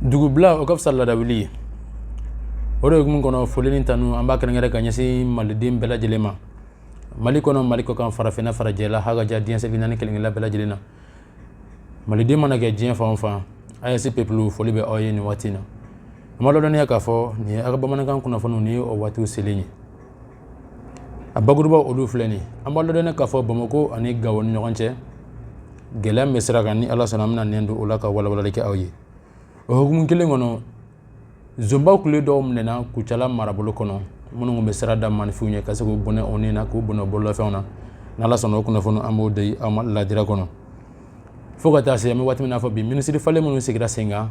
dugubila o ka fisa ladawuli ye o de hukumu kɔnɔ foli ni tanu an b'a kɛrɛnkɛrɛn ka ɲɛsin maliden bɛɛ lajɛlen ma mali kɔnɔ mali kɔ kan farafinna farajɛla ha ka ja diɲɛ seleke naani kelenkelenna bɛɛ lajɛlen na maliden mana kɛ diɲɛ fan o fan AES peuple foli bɛ aw ye nin waati in na an b'a lɔdɔniya k'a fɔ nin ye aw ka bamanankan kunnafoniw ni o waatiw selen ye a bakurubaw olu filɛ nin an b'a lɔdɔniya k'a fɔ Bamakɔ ani Gawo ni ɲɔgɔn cɛ gɛlɛya min bɛ sira kan ni Ala sɔnna an bɛna nɛn don o la ka walawalali kɛ aw ye o hukumu kelen kɔnɔ zonba kulu dɔw minɛna Kucala marabolo kɔnɔ minnu tun bɛ sira da maaninfinw ɲɛ ka se k'u bɔnɛ u ni na k'u bɔnɛ bololafɛnw na n'Ala sɔnna o kunnafoni an b'o di aw ma ladira kɔnɔ fo ka taa se an bɛ waati min na fɔ bi minisiri falen minnu sigira sen kan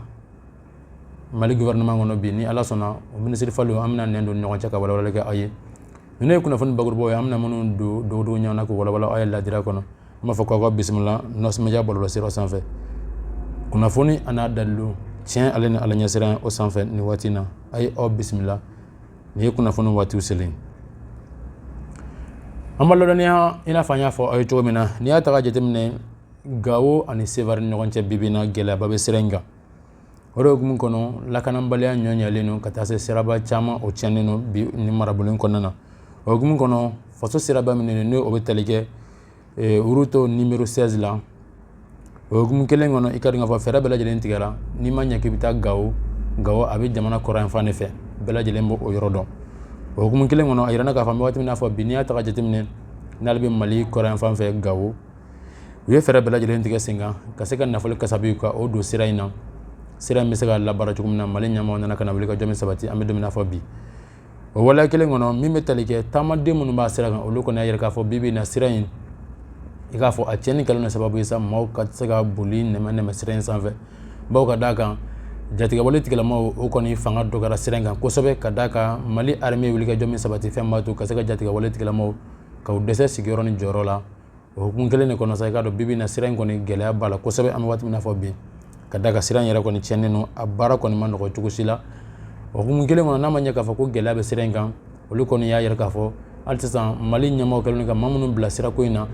mali gouvernement kɔnɔ bi ni ala sɔnna o minisiri falen an bɛna nɛn don ɲɔgɔn cɛ ka walawalali kɛ aw ye ninnu ye kunnafoni bakurubaw ye an bɛna minnu don dɔgɔdɔgɔ ɲɔgɔn na k'u walawala aw ye ladira kɔnɔ an b'a fɔ k'aw ka bisimila nɔsimidiya bɔlɔlɔsira sanfɛ kunnafoni an'a dalilu tiɲɛ ale ni ala ɲɛsiran o sanfɛ nin waati in na a ye aw bisimila nin ye kunnafoni waatiw selen an b'a lɔdɔniya i n'a fɔ an y'a fɔ aw ye cogo min na n'i y'a ta ka jateminɛ gawo ani sevare ni ɲɔgɔn cɛ bi bi in na gɛlɛyaba bɛ sira in kan o de hukumu kɔnɔ lakanabaliya ɲɔnyalen don ka taa se siraba caman o tiɲɛnen don bi nin marabolo in kɔnɔna na o hukumu kɔnɔ faso siraba min n'o bɛ tali kɛ route numéro seize la o hukumu kelen kɔnɔ i k'a dɔn k'a fɔ fɛɛrɛ bɛɛ lajɛlen tigɛra n'i ma ɲɛ k'i bɛ taa gawo gawo a bɛ jamana kɔrɔnyanfan de fɛ bɛɛ lajɛlen b'o yɔrɔ dɔn o hukumu kelen kɔnɔ a jirala k'a fɔ an bɛ waati min na fɔ bi n'i y'a ta ka jateminɛ n'ale bɛ mali kɔrɔnyanfan fɛ gawo u ye fɛɛrɛ bɛɛ lajɛlen tigɛ sen kan ka se ka nafolo kasabi ka o don sira in na sira in bɛ se ka labaara cogo min na mali ɲɛmaaw nana ka na wuli ka jɔ min sabati an bɛ don min na fɔ bi o waleya kelen kɔnɔ min bɛ tali kɛ taamaden minnu b'a sira kan olu kɔni y'a yira k'a fɔ bi bi in na sira in i k'a fɔ a tiɲɛni kɛlen don sababu ye sa maaw ka se ka boli nɛmɛ nɛmɛ sira in sanfɛ bawo ka d'a kan jatigɛwale tigilamaaw o kɔni fanga dɔgɔyara sira in kan kosɛbɛ ka d'a kan mali armée wuli ka jɔ min sabati fɛn b'a to ka se ka jatigɛwale tigilamaaw ka u dɛsɛ sigiyɔrɔ ni jɔyɔrɔ la o hukumu kelen de kɔnɔ sa i k'a dɔn bi bi in na sira in kɔni gɛlɛya b'a la kosɛbɛ an bɛ waati min na fɔ bi ka d'a kan sira in yɛrɛ kɔni tiɲɛnen don a baara kɔni man nɔgɔ cogo si la o hukumu kelen kɔnɔ n'a ma ɲɛ k'a fɔ ko gɛlɛya bɛ sira in kan olu kɔni y'a yira k'a fɔ hali sisan mali ɲɛmaaw kɛlen ka maa minnu bila sirako in na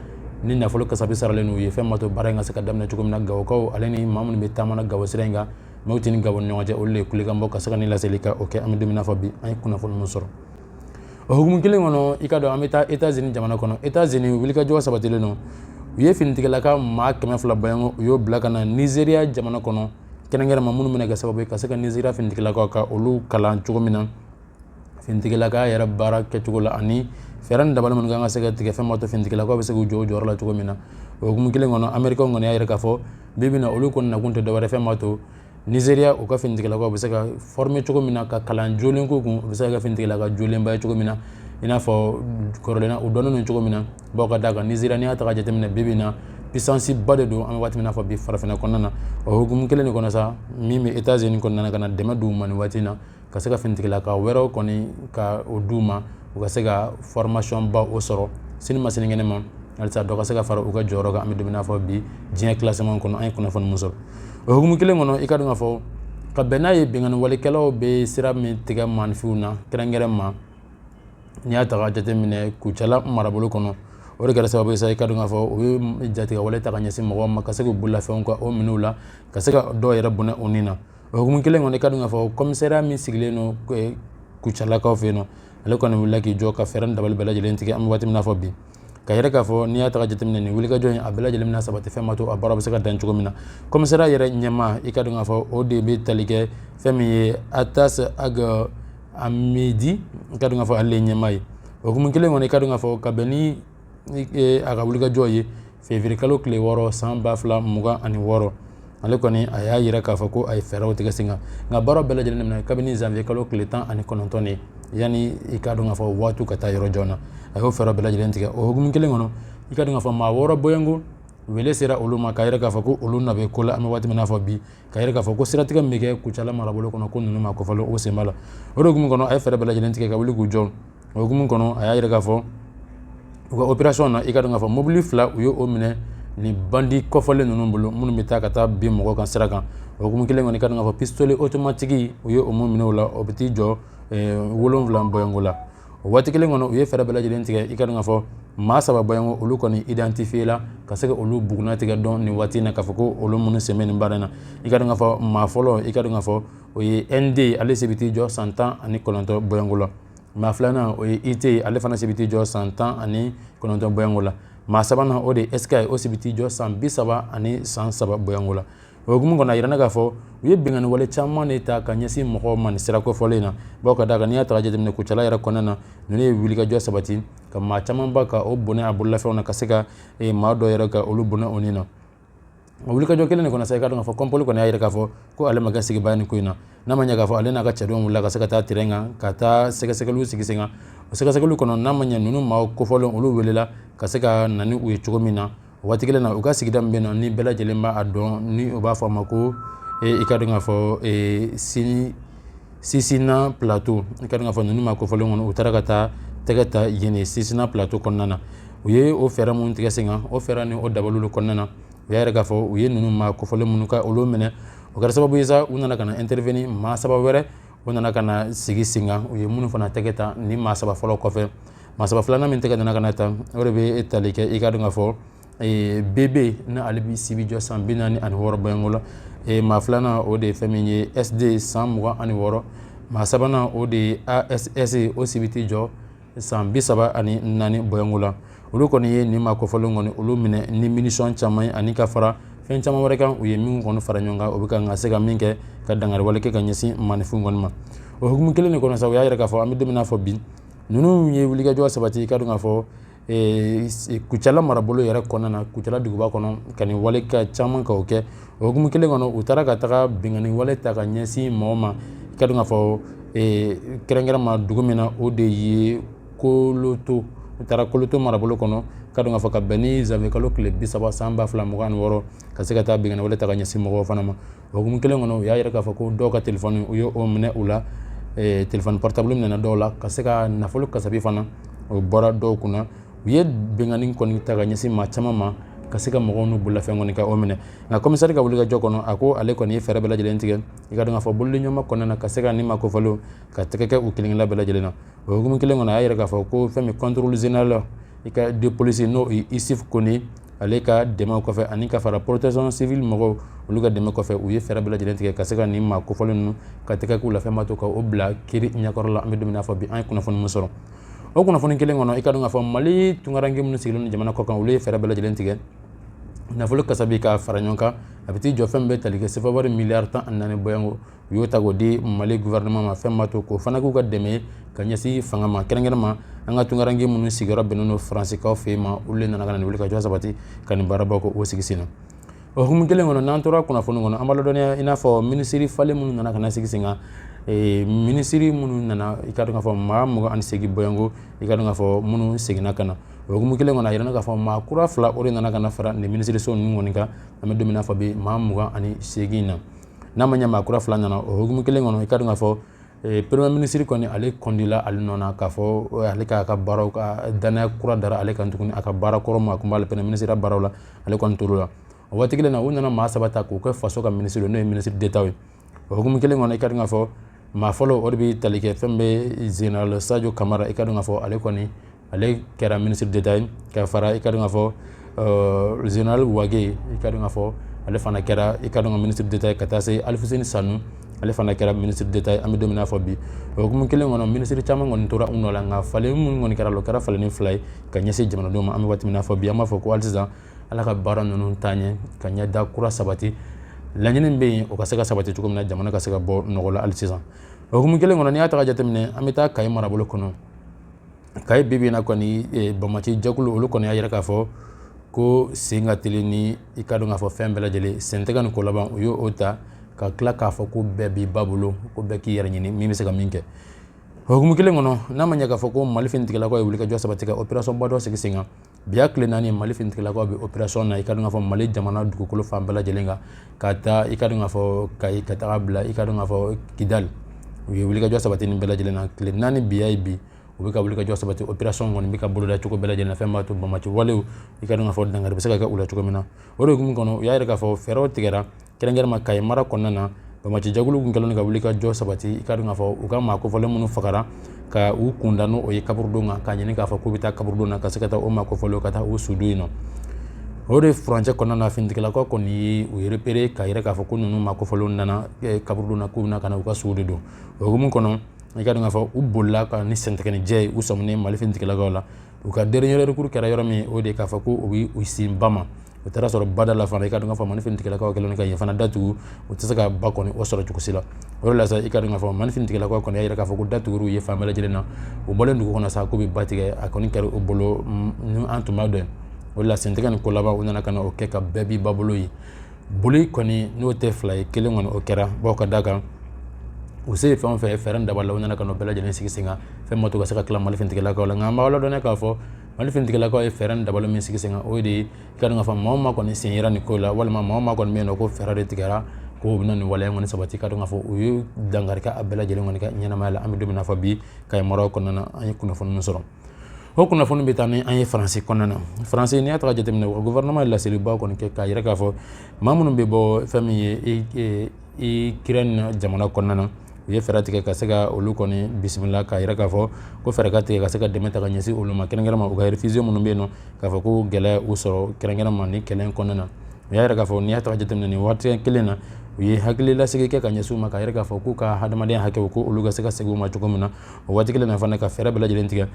ni nafolo kasabi saralen n'u ye fɛn ma to baara in ka se ka daminɛ cogo min na gawokaw ale ni maa minnu bɛ taama na gawo sira in kan mɔti ni gawo ni ɲɔgɔn cɛ olu de ye kulekan bɔ ka se ka nin laseli ka o kɛ an bɛ don min na fɔ bi an ye kunnafoni min sɔrɔ o hukumu kelen kɔnɔ i k'a dɔn an bɛ taa etazini jamana kɔnɔ etazini wulikajɔ sabatilen don u ye finitigilaka maa kɛmɛ fila bɔɲɔgɔnko u y'o bila ka na nizeriya jamana kɔnɔ kɛrɛnkɛrɛnma minnu bɛna kɛ sababu ye ka se ka nizeriya finitigilakaw ka olu kalan cogo min na finitigilaka yɛrɛ baara kɛcogo la ani fɛɛrɛ ni dabali minnu kan ka se ka tigɛ fɛn ma to finitigilakaw bɛ se k'u jɔ o jɔyɔrɔ la cogo min na o hukumu kelen kɔnɔ amerikaw kɔni y'a yira k'a fɔ bi bi in na olu kɔni nakun tɛ dɔwɛrɛ fɛn ma to Nizeriya u ka finitigilakaw bɛ se ka former cogo min na ka kalan jolen k'u kun u bɛ se ka kɛ finitigilaka jolenba ye cogo min na i n'a fɔ kɔrɔlen na u dɔnnen don cogo min na bawo ka d'a kan nizeriya n'i y'a ta ka jateminɛ bi bi in na puissance ba de don an bɛ waati min na fɔ bi farafinna kɔnɔna na o hukumu kelen de kɔnɔ sa min bɛ etazini kɔnɔna na ka na dɛmɛ d'u ma nin waati na ka se ka finitigilaka wɛrɛw kɔni ka o d'u ma u ka se ka formation ba o sɔrɔ sini ma sinikɛnɛ ma halisa dɔ ka se ka fara u ka jɔyɔrɔ kan an bɛ don min na fɔ bi diɲɛ classement kɔnɔ an ye kunnafoni min sɔrɔ o hukumu kelen kɔnɔ i k'a dɔn k'a fɔ ka bɛn n'a ye binkanniwalekɛlaw bɛ sira min tigɛ maaninfinw na kɛrɛnkɛrɛn ma n'i y'a ta ka jateminɛ kucala marabolo kɔnɔ o de kɛra sababu ye sa i k'a dɔn k'a fɔ u ye jatigɛwale ta ka ɲɛsin mɔgɔw ma ka se k'u bololafɛnw ka o minɛ u la ka se ka dɔw yɛrɛ bɔnɛ u ni na o hukumu kelen kɔnɔ i k'a dɔn k'a fɔ kɔmisariya min sigilen don kucalakaw fɛ yen nɔ ale kɔni wulila k'i jɔ ka fɛɛrɛ ni dabali bɛɛ lajɛlen tigɛ an bɛ waati min na fɔ bi k'a yira k'a fɔ n'i y'a ta ka jateminɛ nin wulikajɔ in a bɛɛ lajɛlen bɛna sabati fɛn ma to a baara bɛ se ka dan cogo min na kɔmisariya yɛrɛ ɲɛmaa i k'a dɔn k'a fɔ o de bɛ tali kɛ fɛn min ye atas ag amedi i k'a dɔn k'a fɔ ale ɲɛmaa ye o hukumu kelen kɔnɔ i k'a dɔn k'a fɔ ka bɛn ni a ka wulikajɔ ye fevrier kalo tile wɔɔrɔ san ba fila mugan ani wɔɔrɔ ale kɔni a y'a yira k'a fɔ ko a ye fɛɛrɛw tigɛ sen kan nka baaraw bɛɛ lajɛlen daminɛ kabini zanvier kalo tile tan ani kɔnɔntɔn de yanni i k'a dɔn k'a fɔ waatiw ka taa yɔrɔ jan na a y'o fɛɛrɛ bɛɛ lajɛlen tigɛ o hukumu kelen kɔnɔ i k'a dɔn k'a fɔ maa wɔɔrɔ bɔɲɔgɔnko wele sera olu ma k'a yira k'a fɔ ko olu na bɛ ko la an bɛ waati min na fɔ bi k'a yira k'a fɔ ko siratigɛ min bɛ kɛ kucala marabolo kɔnɔ ko ninnu maa kofɔlenw sen b'a la o de hukumu kɔnɔ a ye fɛɛrɛ bɛɛ lajɛlen tigɛ ka wuli k'u jɔ o hukumu kɔnɔ a y'a yira k'a fɔ u ka opération na i k'a dɔn k'a fɔ mobili fila u ye o minɛ nin bandi kofɔlen ninnu bolo minnu bɛ taa ka taa bin mɔgɔw kan sira kan o hukumu kelen kɔnɔ i k'a dɔn k'a fɔ pistolet automatique u ye o min minɛ u la o bɛ t'i jɔ eh, wolonwula bɔɲɔgɔnko la o waati kelen kɔnɔ u ye fɛɛrɛ bɛɛ lajɛlen tigɛ i k'a dɔn k'a fɔ maa saba bɔɲɔgɔnko olu kɔni identifié la ka se ka olu bugunnatigɛ dɔn nin waati in na k'a fɔ ko olu minnu sen bɛ nin baara in na i k'a dɔn k'a fɔ maa fɔlɔ i k'a dɔn k'a fɔ o ye nd ale si bɛ t'i jɔ san tan ani kɔnɔntɔn bɔɲɔgɔnko la maa filanan o ye it ale fana si bɛ t'i jɔ san tan ani kɔnɔntɔn bɔɲɔgɔnko la maa sabanan o de ye sk o si bɛ t'i jɔ san bi saba ani san saba bɔɲɔgɔnko la o hukumu kɔnɔ a jirana k'a fɔ u ye binkanniwale caman de ta ka ɲɛsin mɔgɔw ma nin sira kofɔlen na bawo ka d'a kan n'i y'a ta ka jateminɛ kucala yɛrɛ kɔnɔna na ninnu ye wulikajɔ sabati ka maa camanba ka o bɔnɛ a bololafɛnw na ka se ka eh, maa dɔ yɛrɛ ka olu bɔnɛ u ni na o wulikajɔ kelen de kɔnɔ sa i ka dɔn k'a fɔ kɔnpoli kɔni y'a yira k'a fɔ ko ale ma kɛ sigibaa nin ko in na n'a ma ɲɛ k'a fɔ ale n'a ka cɛdenw wulila ka se ka taa terrain kan ka taa sɛgɛsɛgɛliw sigi sen kan o sɛgɛsɛgɛliw kɔnɔ n'a ma ɲɛ ninnu maaw kofɔlen olu welela ka se ka na ni u ye cogo min na o waati kelen na u ka sigida min bɛ na ni bɛɛ lajɛlen b'a dɔn ni u b'a fɔ a ma ko i ka dɔn k'a fɔ sini Sinsina plateau i ka dɔn k'a fɔ ninnu maa kofɔlen kɔnɔ u taara ka taa tɛgɛ ta yen Sinsina plateau kɔnɔna na u ye o fɛɛrɛ minnu tigɛ sen kan o fɛɛrɛ ni o dabaliw kɔnɔna na u y'a yira k'a fɔ u ye ninnu maa kofɔlen minnu ka olu minɛ o kɛra sababu ye sa u nana ka na intervenir maa saba wɛrɛ u nana ka na sigi sen kan u ye minnu fana tɛgɛ ta nin maa saba fɔlɔ kɔfɛ maa saba filanan min tɛgɛ nana ka na ta o de bɛ tali kɛ i ka dɔn k'a fɔ BB ni ale si b'i jɔ san bi naani ani wɔɔrɔ bɔɲɔgɔnko la maa filanan o de ye fɛn min ye SD san mugan ani wɔɔrɔ maa sabanan o de ye ASS o si bɛ t'i jɔ san bi saba ani naani bɔɲɔgɔnko la olu kɔni ye nin maa kofɔlen kɔni olu minɛ ni munition caman ye ani ka fara fɛn caman wɛrɛ kan u ye min kɔni fara ɲɔgɔn kan o bɛ ka ka se ka min kɛ ka dankariwale kɛ ka ɲɛsin maaninfin kɔni ma o hukumu kelen de kɔnɔ sa u y'a yira k'a fɔ an bɛ don min na fɔ bi ninnu ye wulikajɔ sabati i ka dɔn k'a fɔ kucala marabolo yɛrɛ kɔnɔna na kucala duguba kɔnɔ ka nin wale ka caman ka o kɛ o hukumu kelen kɔnɔ u taara ka taga binkanni wale ta ka ɲɛsin mɔgɔ ma i ka dɔn k'a fɔ kɛrɛnkɛrɛn ma dugu min na o de ye koloto u taara koloto marabolo kɔnɔ i ka dɔn k'a fɔ ka bɛn ni zanwiye kalo tile bi saba san ba fila mugan wɔɔrɔ ka se ka taa binkanni wale ta ka ɲɛsin mɔgɔ fana ma O hukumu kelen kɔnɔ u y'a yira k'a fɔ ko dɔw ka téléphone u ye o minɛ u la téléphone portable minɛna dɔw la ka se ka nafolo kasabi fana o bɔra dɔw kunna u ye binkanni kɔni ta ka ɲɛsin maa caman ma ka se ka mɔgɔw n'u bololafɛn kɔni ka o minɛ nka kɔmisari ka wulikajɔ kɔnɔ a ko ale kɔni ye fɛɛrɛ bɛɛ lajɛlen tigɛ i ka dɔn k'a fɔ bolodiɲɔgɔnma kɔnɔna na ka se ka nin maa kofɔlen ka tɛgɛ kɛ u kelenkelen bɛɛ lajɛlen na o hukumu kelen kɔnɔ a y'a yira k'a fɔ ko fɛn min contrôleur général i ka de police n'o ye Isuf Kɔnɛ ale ka dɛmɛ kɔfɛ ani ka fara protection civile mɔgɔw olu ka dɛmɛ kɔfɛ u ye fɛɛrɛ bɛɛ lajɛlen tigɛ ka se ka nin maa kofɔlen ninnu ka tɛgɛ k'u la fɛn b'a to ka o bila kiiri ɲɛkɔrɔ la an bɛ don min na fɔ bi an ye kunnafoni min sɔrɔ o kunnafoni kelen kɔnɔ i ka dɔn k'a fɔ mali tunkaranke minnu sigilen don jamana kɔkan olu ye fɛɛrɛ bɛɛ lajɛlen tigɛ nafolo kasabi ka fara ɲɔgɔn kan a bɛ t'i jɔ fɛn bɛ tali kɛ sefawari miliyari tan ani naani bɔɲɔgɔnko u y'o ta k'o di mali gouvernement ma fɛn b'a to k'o fana k'u ka dɛmɛ ka ɲɛsin fanga ma kɛrɛnkɛrɛn ma an ka tunkaranke minnu sigiyɔrɔ bɛnnen don faransikaw fɛ yen ma olu de nana ka na nin wulikajɔ sabati ka nin baaraba k'o sigi sen na o hukumu kelen kɔnɔ n'an tora kunnafoni kɔnɔ an b'a ladɔnniya i n'a fɔ minisiri falen minnu nana ka na sigi sen kan Eh, minisiri minnu nana i ka dɔn k'a fɔ maa mugan ani segin bɔɲɔgɔnko i ka dɔn k'a fɔ minnu seginna ka na o hukumu kelen kɔnɔ a yirana k'a fɔ maa kura fila o de nana ka na fara nin minisiriso ninnu kɔni kan an bɛ don min na fɔ bi maa mugan ani segin na n'a ma ɲɛ maa kura fila nana o hukumu kelen kɔnɔ i ka dɔn k'a fɔ eh, premier ministre kɔni ale kɔndila ale nɔ na k'a fɔ eh, ale k'a ka baaraw ka danaya kura dara ale kan tuguni a ka baara kɔrɔ ma a tun b'ale premier ministre baaraw la ale kɔni tor'o la o waati kelen na u nana maa saba ta k'u kɛ faso ka ministre n'o ye ministre d'état ye o hukumu kelen kɔnɔ i ka dɔn k'a fɔ maa fɔlɔ o de bɛ tali kɛ fɛn bɛ général sadio kamara i ka dɔn k'a fɔ ale kɔni ale kɛra minisiri deta ye ka fara i ka dɔn k'a fɔ zenerali wage i ka dɔn k'a fɔ ale fana kɛra i ka dɔn ka minisiri deta ye ka taa se alifuseni sanu ale fana kɛra minisiri deta ye an bɛ don min na fɔ bi o hukumu kelen kɔnɔ minisiri caman kɔni tora u nɔ la nka falen minnu kɔni kɛra o kɛra falenni fila ye ka ɲɛsin jamanadenw ma an bɛ waati min na fɔ bi an b'a fɔ ko hali sisan ala ka baara ninnu taa ɲɛ ka ɲɛda kura sabati laɲini bɛ yen o ka se ka sabati cogo min na jamana ka se ka bɔ nɔgɔ la hali sisan o hukumu kelen kɔnɔ n'i y'a ta ka jateminɛ an bɛ taa kayi marabolo kɔnɔ kayi bi bi in na kɔni eh, banbaanci jɛkulu olu kɔni y'a yira k'a fɔ ko sen ka teli ni i ka dɔn k'a fɔ fɛn bɛɛ lajɛlen sen tɛ ka nin ko laban u y'o ta ka tila k'a fɔ ko bɛɛ b'i ba bolo ko bɛɛ k'i yɛrɛ ɲini min bɛ se ka min kɛ o hukumu kelen kɔnɔ n'a ma ɲɛ k'a fɔ ko mali finitigilakaw ye wulikajɔ sabati ka operasɔnba dɔ sigi sen kan bi y'a tile naani ye mali finitigilakaw bɛ operasɔn na i ka dɔn k'a fɔ mali jamana dugukolo fan bɛɛ lajɛlen kan ka taa i ka dɔn k'a fɔ kayi ka taga bila i ka dɔn k'a fɔ kidali u ye wulikajɔ sabati nin bɛɛ lajɛlen na tile naani bi y'a ye bi u bɛ ka wulikajɔ sabati operasɔn kɔni bɛ ka boloda cogo bɛɛ lajɛlen fɛn b'a to banbaanci walew i ka dɔn k'a fɔ dankari bɛ se ka kɛ u la cogo min na o de hukumu kɔnɔ u y'a yira k'a fɔ fɛɛrɛw tigɛra kɛrɛnkɛrɛnma kayi mara kɔnɔna na banbaanci jɛkulu tun kɛlen ka wulikajɔ sabati i ka dɔn k'a fɔ u ka maa kofɔlen minnu fagara ka u kunda n'o ye kaburudon kan k'a ɲini k'a fɔ k'u bɛ taa kaburudon na ka se ka taa o maa kofɔlen ka taa u su don yen nɔ o de furancɛ kɔnɔna na finitigilakaw kɔni ye u repere k'a yira k'a fɔ ko ninnu maa kofɔlen nana eh, kaburudon na k'u bɛna ka na u ka suw de don o hukumu kɔnɔ i ka dɔn k'a fɔ u bolila ka ni sɛntigɛnijɛ ye u sɔminen mali finitigilakaw la u ka dernier recours kɛra yɔrɔ min o de k'a fɔ ko u bɛ u sin ba ma u taara sɔrɔ bada la fana i ka dɔn k'a fɔ mali finitigilakaw kɛlen ka yen fana datugu u tɛ se ka ba kɔni o sɔrɔ cogo si la o de la sa i ka dɔn k'a fɔ mali finitigilakaw kɔni y'a yira k'a fɔ ko datuguli ye fan bɛɛ lajɛlen na u bɔlen dugu kɔnɔ sa k'u bɛ ba tigɛ a kɔni kɛra u bolo ni an tun b'a dɔn o de la sentɛgɛ ni ko laban u nana ka na o kɛ ka bɛɛ b'i ba bolo ye boli kɔni n'o tɛ fila ye kelen kɔni o kɛra bawo ka d'a kan u se ye fɛn o fɛn fɛɛrɛ dabali la u nana ka n'o bɛɛ lajɛlen sigi sen kan fɛn b'a to ka se ka tila mali finitigilakaw la nka an b'aw ladɔnniya k'a fɔ mali finitigilakaw ye fɛɛrɛ dabali min sigi sen kan o de ye i ka dɔn k'a fɔ maa o maa kɔni sen yera nin ko la walima maa o maa kɔni min ko fɛɛrɛ de tigɛra ko bɛna nin waleya kɔni sabati i ka dɔn k'a fɔ u ye dankari kɛ a bɛɛ lajɛlen kɔni ka ɲɛnamaya la an bɛ don min na fɔ bi kayi mara kɔnɔna an ye kunnafoni min sɔrɔ o kunnafoni bɛ taa ni an ye faransi kɔnɔna na faransi n'i y'a ta ka jateminɛ o gouvernement ye laseliba kɔni kɛ k'a yira k'a fɔ maa minnu bɛ bɔ fɛn min ye ikirɛni jamana kɔnɔna na u ye fɛɛrɛ tigɛ ka se ka olu kɔni bisimila k'a yira k'a fɔ ko fɛɛrɛ ka tigɛ ka se ka dɛmɛ ta ka ɲɛsin olu ma kɛrɛnkɛrɛnma u ka réfugiés minnu bɛ yen nɔ k'a fɔ ko gɛlɛya u sɔrɔ kɛrɛnkɛrɛnma ni kɛlɛ kɔnɔna na u y'a yira k'a fɔ n'i y'a ta ka jateminɛ nin waati kelen na u ye hakililasigi kɛ ka ɲɛsin u ma k'a yira k'a fɔ k'u ka hadamadenya hakɛw ko olu ka se ka segin u ma cogo min na o waati kelen na fana ka fɛɛrɛ bɛɛ lajɛlen tigɛ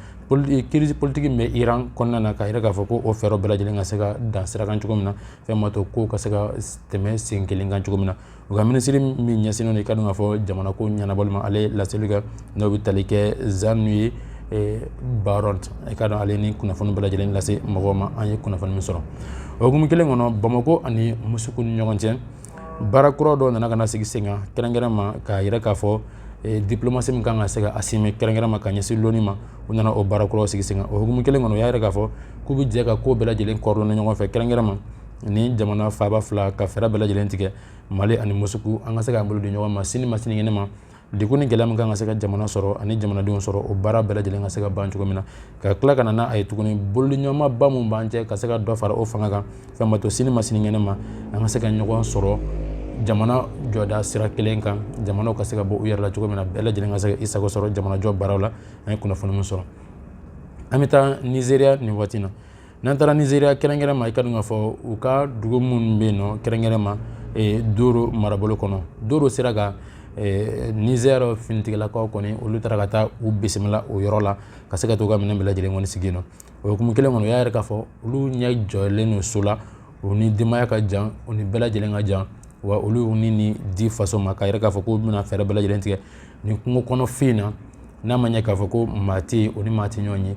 kirisi politiki min bɛ iran kɔnɔna na k'a yira k'a fɔ ko o fɛɛrɛ bɛɛ lajɛlen ka se ka dan sira kan cogo min na fɛn ma to kow ka se ka tɛmɛ sen kelen kan cogo min na u ka minisiri min ɲɛsinnen don i ka dɔn k'a fɔ jamanako ɲɛnabɔli ma ale ye laseli kɛ n'o bɛ tali kɛ jean-noël eh, barrot i ka dɔn ale ni kunnafoni bɛɛ lajɛlen lase mɔgɔw ma an ye kunnafoni min sɔrɔ o hukumu kelen kɔnɔ bamako ani musuku ni ɲɔgɔn cɛ baara kura dɔw nana ka na sigi sen kan kɛrɛnkɛrɛn ma k'a yira k'a fɔ eh, diplomasi min kan ka se ka assumer kɛrɛnkɛrɛn ma ka ɲɛsin loni ma u nana o baara kuraw sigi sen kan o hukumu kelen kɔnɔ u y'a yira k'a fɔ k'u bɛ jɛ ka ko bɛɛ lajɛlen coordonner ɲɔgɔn fɛ kɛrɛnkɛrɛn ma ni jamana faaba fila ka fɛɛrɛ bɛɛ lajɛlen tigɛ mali ani musuku an ka se k'an bolo di ɲɔgɔn ma sini ma sinikɛnɛ ma degun ni gɛlɛya min kan ka se ka jamana sɔrɔ ani jamanadenw sɔrɔ o baara bɛɛ lajɛlen ka se ka ban cogo min na ka tila ka na a ye tuguni bolodiɲɔgɔnmaba min b'an cɛ ka se ka dɔ fara o fanga kan fɛn ma to sini ma sinikɛnɛ ma an ka se ka ɲɔgɔn sɔrɔ jamana jɔda sira kelen kan jamanaw ka se ka bɔ u yɛrɛ la cogo min na bɛɛ lajɛlen ka se ka i sago sɔrɔ jamanajɔ baaraw la an ye kunnafoni min sɔrɔ an bɛ taa nizeriya nin waati na n'an taara nizeriya kɛrɛnkɛrɛn ma i ka dɔn k'a fɔ u ka dugu minnu bɛ yen nɔ kɛrɛnkɛrɛn ma eh, doro marabolo kɔnɔ doro sira kan eh, nizɛr finitigilakaw kɔni olu taara ka taa u bisimila o yɔrɔ la ka se ka to ka minɛn bɛɛ lajɛlen kɔni sigi yen nɔ o hukumu kelen kɔnɔ u y'a yira k'a fɔ olu ɲɛ jɔlen don so la u ni denbaya ka jan u ni bɛɛ lajɛlen ka jan wa olu ni ni di faso ma k'a yira k'a fɔ k'u bɛna fɛɛrɛ bɛɛ lajɛlen tigɛ nin kungo kɔnɔfin na n'a ma ɲɛ k'a fɔ ko maa tɛ yen u ni maa tɛ ɲɔgɔn ye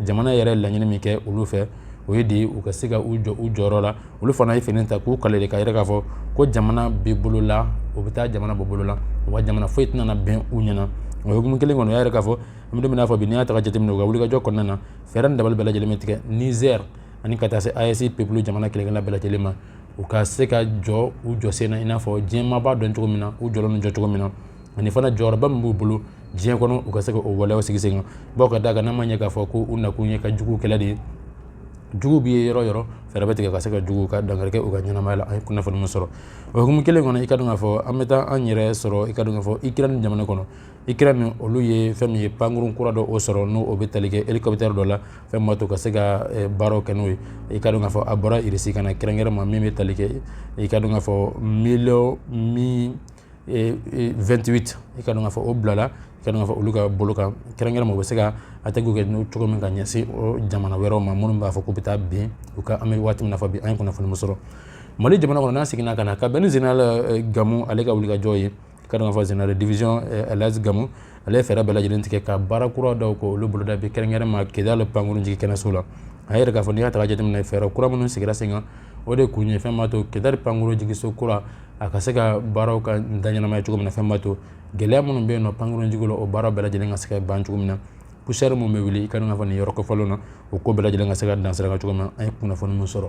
jamana yɛrɛ laɲini min kɛ olu fɛ o ye de u ka se ka u jɔ u jɔyɔrɔ la olu fana ye fini ta k'u kale de k'a yira k'a fɔ ko jamana bɛ bolo la o bɛ taa jamana bɔ bolo la wa jamana foyi tɛna bɛn u ɲɛna o hukumu kelen kɔnɔ u y'a yira k'a fɔ n bɛn'a fɔ bi n'i y'a ta ka jateminɛ u ka wulikajɔ kɔnɔna na fɛɛrɛ ni dabali bɛɛ lajɛlen bɛ tigɛ nizɛr ani ka taa se aes peuple jamana kelen-kelenna bɛɛ lajɛlen ma u ka se ka jɔ u jɔ sen na i n'a fɔ diɲɛ maa b'a dɔn cogo min na u jɔlen jɔ cogo min na ani fana jɔyɔrɔba min b'u bolo diɲɛ kɔnɔ u ka se ka o waleyaw sigi sen kan bawo ka d'a kan n'a ma ɲɛ k'a fɔ ko u nakun ye ka jugu kɛlɛ de ye jugu bɛ ye yɔrɔ yɔrɔ fɛɛrɛ bɛ tigɛ ka se ka jugu ka dankari kɛ u ka ɲɛnamaya la an ye kunnafoni min sɔrɔ o hukumu kelen kɔnɔ i ka dɔn k'a fɔ an bɛ taa an yɛrɛ sɔrɔ i ka dɔn k'a fɔ ikirɛni jamana kɔnɔ ikirɛni olu ye fɛn min ye pankurun kura dɔ o sɔrɔ n'o o bɛ tali kɛ hélicoptère dɔ la fɛn min b'a to ka se ka eh, baaraw kɛ n'o ye i ka dɔn k'a fɔ a bɔra irisi ka na kɛrɛnkɛrɛn ma min bɛ tali kɛ i ka dɔn k'a fɔ miliyɔn mi 2tbi i ka dɔn k'a fɔ o bilala i ka dɔn k'a fɔ olu ka bolo kan kɛrɛnkɛrɛnma u bɛ se ka attaque kɛ n'o cogo min ka ɲɛsin o jamana wɛrɛw ma minnu b'a fɔ k'u bɛ taa bin u kan an bɛ waati min na fɔ bi an ye kunnafoni min sɔrɔ mali jamana kɔnɔ n'a seginna ka na ka bɛn ni général gamu ale ka wulikajɔ ye i ka dɔn k'a fɔ général de division elhadji gamu ale ye fɛɛrɛ bɛɛ lajɛlen tigɛ ka baara kura dɔw kɛ olu boloda bi kɛrɛnkɛrɛn ma kidal pankurun jigin kɛnɛso la a yira k'a fɔ n'i y'a ta ka jateminɛ fɛɛrɛ kura minnu sigira sen kan o de kun ye fɛn b'a to kidali pankurun jigiso kura a ka se ka baaraw ka da ɲɛnamaya cogo min na fɛn b'a to gɛlɛya minnu bɛ yen nɔ pankurunjigi la o baara bɛɛ lajɛlen ka se ka ban cogo min na poussière min bɛ wuli i ka dɔn k'a fɔ nin yɔrɔ kofɔlen na o ko bɛɛ lajɛlen ka se ka dansiraka cogo min na an ye kunnafoni min sɔrɔ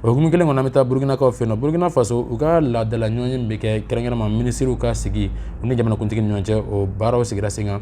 o hukumu kelen kɔnɔ an bɛ taa burukinakaw fɛ yen nɔ burukina faso u ka laadala ɲɔgɔnye min bɛ kɛ kɛrɛnkɛrɛnma minisiriw ka sigi u ni jamanakuntigi ni ɲɔgɔn cɛ o baaraw sigira sen kan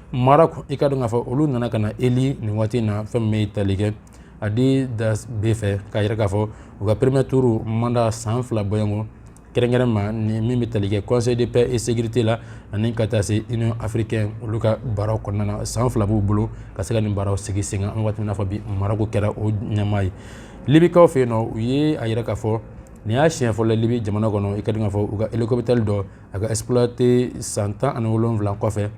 maroc i ka dɔn k'a fɔ olu nana ka na élu nin waati in na fɛn min bɛ tali kɛ addis abeba fɛ k'a yira k'a fɔ u ka premier tour mandat san fila bɔɲɔgɔn kɛrɛnkɛrɛn ma ni min bɛ tali kɛ conseil de paix et sécurité la ani ka taa se union africaine olu ka baaraw kɔnɔna na san fila b'u bolo ka se ka nin baaraw sigi sen kan an bɛ waati min na fɔ bi maroc kɛra o ɲɛmaa ye libikaw fɛ yen nɔ u ye a yira k'a fɔ nin y'a siɲɛ fɔlɔ libi jamana kɔnɔ i ka dɔn k'a fɔ u ka hélicoptère dɔ a ka exploité san tan ani wolonwula kɔfɛ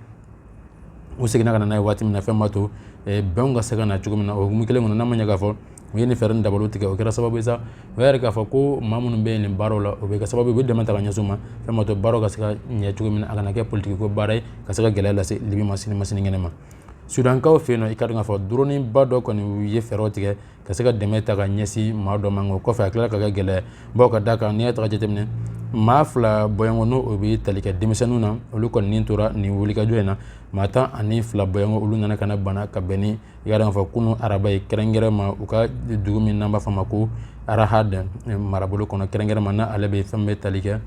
u seginna ka na n'a ye waati min na fɛn b'a to bɛnw ka se ka na cogo min na o hukumu kelen kɔnɔ n'a ma ɲɛ k'a fɔ u ye nin fɛɛrɛ ni dabaliw tigɛ o kɛra sababu ye sa o y'a yira k'a fɔ ko maa minnu bɛ yen nin baaraw la o bɛ kɛ sababu ye u bɛ dɛmɛ ta ka ɲɛsin u ma fɛn b'a to baaraw ka se ka ɲɛ cogo min na a kana kɛ politiki ko baara ye ka se ka gɛlɛya lase libi ma sini ma sinikɛnɛ ma sudankaw fɛ yen nɔ i ka dɔn k'a fɔ droniba dɔ kɔni u ye fɛɛrɛw tigɛ ka se ka dɛmɛ ta ka ɲɛsin maa dɔ ma o kɔfɛ a tilala ka kɛ gɛlɛya bawo ka d'a kan n'i y'a ta ka jateminɛ maa fila bɔɲɔgɔn n'o o bɛ tali kɛ denmisɛnninw na olu kɔni ni tora nin wulikajɔ in na maa tan ani fila bɔɲɔgɔn olu nana ka na bana ka bɛn ni i ka dɔn k'a fɔ kunun araba ye kɛrɛnkɛrɛn ma u ka dugu min n'an b'a fɔ a ma ko arahad marabolo kɔnɔ kɛrɛnkɛrɛn ma n'ale bɛ fɛn bɛ tali kɛ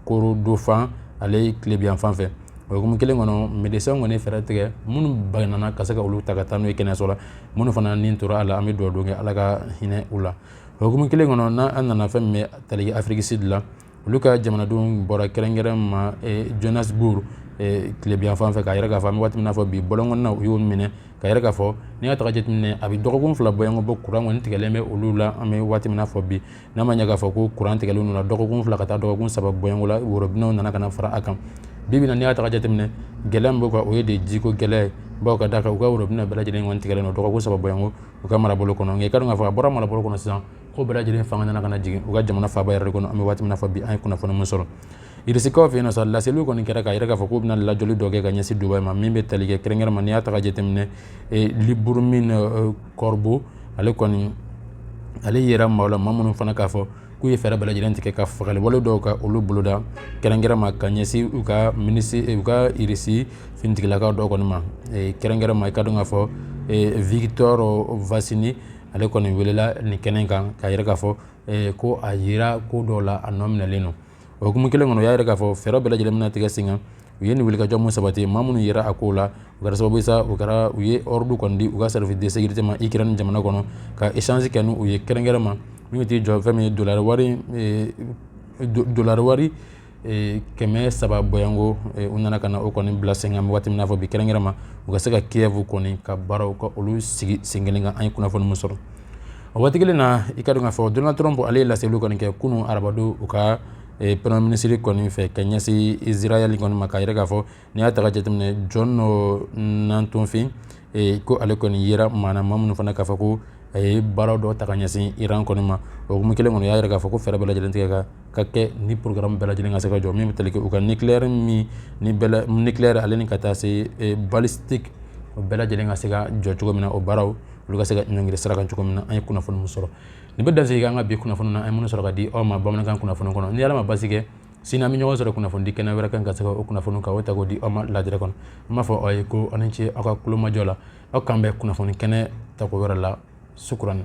korodofan ale tilebinyanfan fɛ o hukumu kelen kɔnɔ médecins kɔni fɛɛrɛ tigɛ minnu banana ka se ka olu ta ka taa n'u ye kɛnɛyaso la minnu fana ni tora a la an bɛ dugawudon kɛ ala ka hinɛ u la o hukumu kelen kɔnɔ n'an nana fɛn min bɛ tali kɛ afrique du sud la olu ka jamanadenw bɔra kɛrɛnkɛrɛn ma johannesburg tilebinyanfan fɛ k'a yira k'a fɔ an bɛ waati min na fɔ bi bɔlɔn kɔnɔna u y'o minɛ k'a yira k'a fɔ n'i y'a ta ka jateminɛ a bɛ dɔgɔkun fila bɔɲɔgɔn bɔ kuran kɔni tigɛlen bɛ olu la an bɛ waati min na fɔ bi n'a ma ɲɛ k'a fɔ ko kuran tigɛlen u la dɔgɔkun fila ka taa dɔgɔkun saba bɔɲɔgɔn la worobinɛw nana ka na fara a kan bi bi in na n'i y'a ta ka jateminɛ gɛlɛya min b'u kan o ye de jiko gɛlɛya ye bawo ka d'a kan u ka worobinɛ bɛɛ lajɛlen kɔni tigɛlen don dɔgɔkun saba bɔɲɔgɔn u ka marabolo kɔnɔ nka i ka dɔn k'a fɔ a bɔra marabolo kɔnɔ sisan ko bɛɛ lajɛlen fanga nana ka na jigin u ka jamana faaba yɛrɛ de kɔnɔ an bɛ waati min na fɔ bi an ye kunnafoni min sɔrɔ Irisikaw fɛ sa laseliw kɔni kɛra k'a yira k'a fɔ k'u bɛna lajɔli dɔ kɛ ka ɲɛsin Dubayi ma min bɛ tali kɛ kɛrɛnkɛrɛn ma n'i y'a ta ka jateminɛ Lyubomir Korba ale kɔni ale yera maaw la maa minnu fana k'a fɔ k'u ye fɛɛrɛ bɛɛ lajɛlen tigɛ ka fagawale dɔw ka olu boloda kɛrɛnkɛrɛn ma ka ɲɛsin u ka u ka irisi finitigilakaw dɔw kɔni ma kɛrɛnkɛrɛn ma i ka dɔn k'a fɔ Viktor Vasin ale kɔni welela nin kɛnɛ kan k'a yira k'a fɔ ko a yera ko dɔw la a nɔ minɛlen don o hukumu kelen kɔnɔ u y'a yira k'a fɔ fɛɛrɛ bɛɛ lajɛlen bɛna tigɛ sen kan u ye nin wulikajɔ min sabati maa minnu yera a kow la u kɛra sababu ye sa u kɛra u ye ordre kɔni di u ka service de sécurité ma ikirɛni jamana kɔnɔ ka échange kɛ ni u ye kɛrɛnkɛrɛn ma min t'i jɔ fɛn min ye dolari wari eh, dolari wari eh, kɛmɛ saba bɔɲɔgɔnko eh, u nana ka na o kɔni bila sen kan waati min n'a fɔ bi kɛrɛnkɛrɛn ma u ka se ka kiev kɔni ka baaraw ka olu sigi sen kelen kan an ye kunnafoni min sɔrɔ o waati kelen na i ka dɔn k'a fɔ donald trump ale ye laseliw kɔni kɛ kunun arabadon u ka eh, premier ministre kɔni fɛ ka ɲɛsin israel kɔni ma k'a yira k'a fɔ n'i y'a ta ka jateminɛ jɔn nɔ nantonfin eh, ko ale kɔni yera maaw la maa minnu fana k'a fɔ ko a ye baara dɔ ta ka ɲɛsin iran kɔni ma o hukumu kelen kɔnɔ y'a yira k'a fɔ ko fɛɛrɛ bɛɛ lajɛlen tigɛ ka ka kɛ ni programme bɛɛ lajɛlen ka se ka jɔ min bɛ tali kɛ u ka nucléaire min ni bɛɛ nucléaire ale ni ka taa se eh, balistique o bɛɛ lajɛlen ka se ka jɔ cogo min na o baaraw olu ka se ka ɲɔngiri sira kan cogo min na an ye kunnafoni min sɔrɔ nin bɛ dansigi an ka bi kunnafoni na an ye minnu sɔrɔ ka di aw ma bamanankan kunnafoni kɔnɔ ni ala ma basi kɛ sini an bɛ ɲɔgɔn sɔrɔ kunnafoni di kɛnɛ wɛrɛ kan ka se k'o kunnafoni ka o ta k'o di aw ma lajɛrɛ kɔnɔ an b'a fɔ aw ye ko aw ni ce aw ka kulomajɔ la aw k'an bɛn kunnafoni kɛnɛ tako wɛrɛ la sukurani